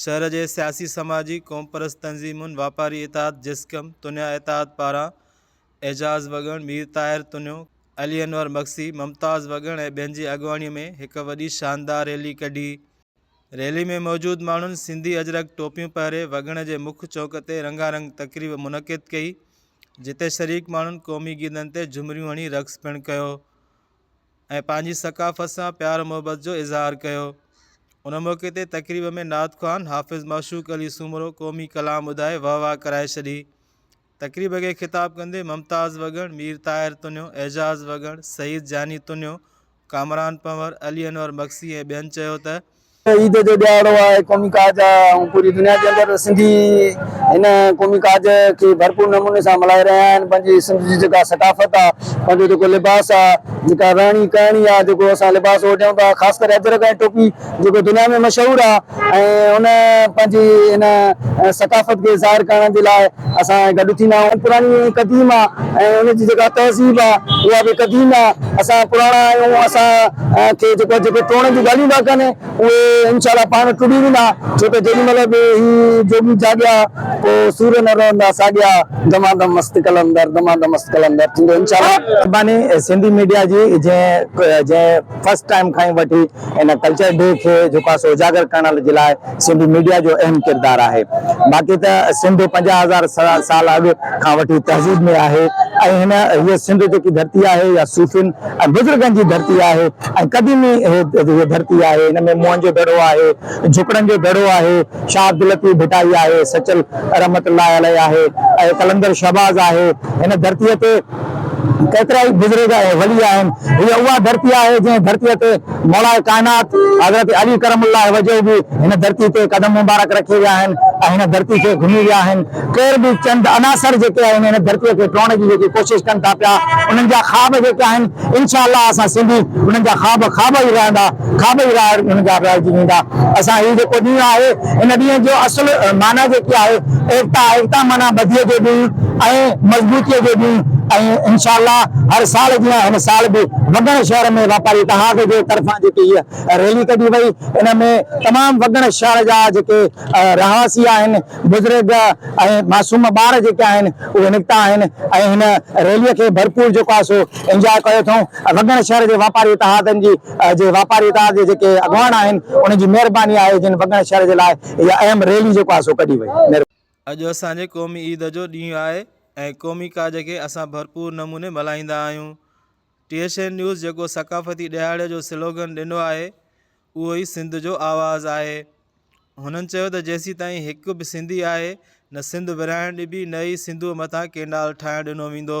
شهر جي سياسي، سماجي، قومپرست تنظيمن، واپاري اتحاد جسقم، تنيا اتحاد پاران اعجاز وڳڻ، مير طاهر تنيو، علي انور مگسي، ممتاز وڳڻ ۽ ٻين جي اڳواڻيء ۾ هڪ وڏي شاندار ريلي ڪڍي. ريلي ۾ موجود ماڻهن سنڌي اجرڪ ٽوپيون پهري وڳڻ جي مک چوڪ تي رنگا رنگ تقريب منعقد ڪئي، جتي شريڪ ماڻهن قومي گيتن تي جهمريون هڻي رقص پڻ ڪيو. ۽ پنهنجي ثقافت سان پيار محبت جو اظهار ڪيو ان موقعي تي تقريب ۾ نعت خوان حافظ معشوق علي سومرو قومي ڪلام ٻڌائي واهه واهه ڪرائي ڇڏي تقريب کي خطاب ڪندي ممتاز وڳڻ مير طاهر تنيو اعجاز وڳڻ سعيد جاني تنيو ڪامران پنور علي انور مگسي ۽ ٻين چيو ته عيد جو ڏهاڙو آهي قومي ڪاج آهي ۽ پوري دنيا جي اندر سنڌي هن قومي ڪاج کي ڀرپور نموني سان ملهائي رهيا آهن پنهنجي سنڌ جي جيڪا ثقافت آهي پنهنجو جيڪو لباس آهي جيڪا رهڻي ڪهڻي آهي جيڪو اسان لباس اوڍيون ٿا خاص ڪري اجرڪ ۽ ٽوپي جيڪو دنيا ۾ مشهور آهي ۽ ان پنهنجي ان ثقافت کي ظاهر ڪرڻ جي لاء اسان گڏ ٿيندا آهيون پراڻي ۽ قديم آ ۽ ان جي جيڪا تهذيب آ اها به قديم آ اسان پراڻا آهيون اسان کي جيڪو جيڪي ٽوڙڻ جون ڳالهيون ٿا ڪن اهي انشاء الله پاڻ ٽڙي ويندا ڇو ته جيڏي مهل به هي جوڳي جاڳيا پو سور نه رهندا ساڳيا دما دم مست قلندر دما دم مست قلندر ٿيندو انشاء الله. مھرباني سنڌي ميڊيا جي جنهن جنهن فرسٽ ٽائيم کان ئي وٺي ان ڪلچر ڊي کي جيڪو آهي سو اجاگر ڪرڻ جي لاء سنڌي ميڊيا جو اهم ڪردار آهي باقي ته سنڌ پنجاهه هزار سال اڳ کان وٺي تهذيب ۾ آهي ۽ هن هيء سنڌ جيڪي ڌرتي آهي يا صوفين ۽ بزرگن جي ڌرتي آهي ۽ قديمي هيء ڌرتي آهي هن ۾ موهن جو دڙو آهي جهڪڙن جو دڙو آهي شاهه عبداللطيف ڀٽائي آهي سچل رحمت الله عليه آهي ۽ قلندر شهباز آهي هن ڌرتيء تي ڪيترائي بزرگ ۽ ولي آهن. هيء اها ڌرتي آهي، جنهن ڌرتيء تي مولاء ڪائنات حضرت علي ڪرم الله وجهه به هن ڌرتي تي قدم مبارڪ رکي ويا آهن ۽ هن ڌرتي کي گهمي ويا آهن. ڪير به چند عناصر جيڪي آهن، هن ڌرتيء کي ٽوڙڻ جي جيڪي ڪوشش ڪن ٿا پيا، انهن جا خواب جيڪي آهن، انشاء الله اسان سنڌي انهن جا خواب خواب ئي رهندا. کاٻئي راء هن جا رائجي ويندا. اسان هي جيڪو ڏينهن آهي ان ڏينهن جو اصل معنيٰ جيڪي آهي ايڪتا ايڪتا معنيٰ ٻڌيء جو ڏينهن ۽ مضبوطيء جو ڏينهن ۽ انشاء الله هر سال جيان هن سال به وڳڻ شهر ۾ واپاري اتحاد جي طرفان جيڪي هيء ريلي ڪڍي وئي ان ۾ تمام وڳڻ شهر جا جيڪي رهواسي آهن بزرگ ۽ معصوم ٻار جيڪي آهن اهي نڪتا آهن ۽ هن ريلي کي ڀرپور جيڪو آهي سو انجوائي ڪيو اٿئون وڳڻ شهر جي واپاري اتحادن جي جي واپاري اتحاد جي جيڪي اڳواڻ آهن انهن جي مهرباني آهي جن وڳڻ شهر جي لاء اها اهم ريلي جيڪو آهي سو ڪڍي وئي مهرباني. اڄ اسان جي قومي عيد جو ڏينهن آهي ۽ قومي ڪاڄ کي اسان ڀرپور نموني ملهائيندا آهيون ٽي ايڇ اين نيوز جيڪو ثقافتي ڏهاڙي جو سلوگن ڏنو آهي اهو ئي سنڌ جو آواز آهي هنن چيو ته جيسيتائين هڪ به سنڌي آهي نه سنڌ ورهائڻ ڏبي نه ئي سنڌوء مٿان ڪينڊال ٺاهڻ ڏنو ويندو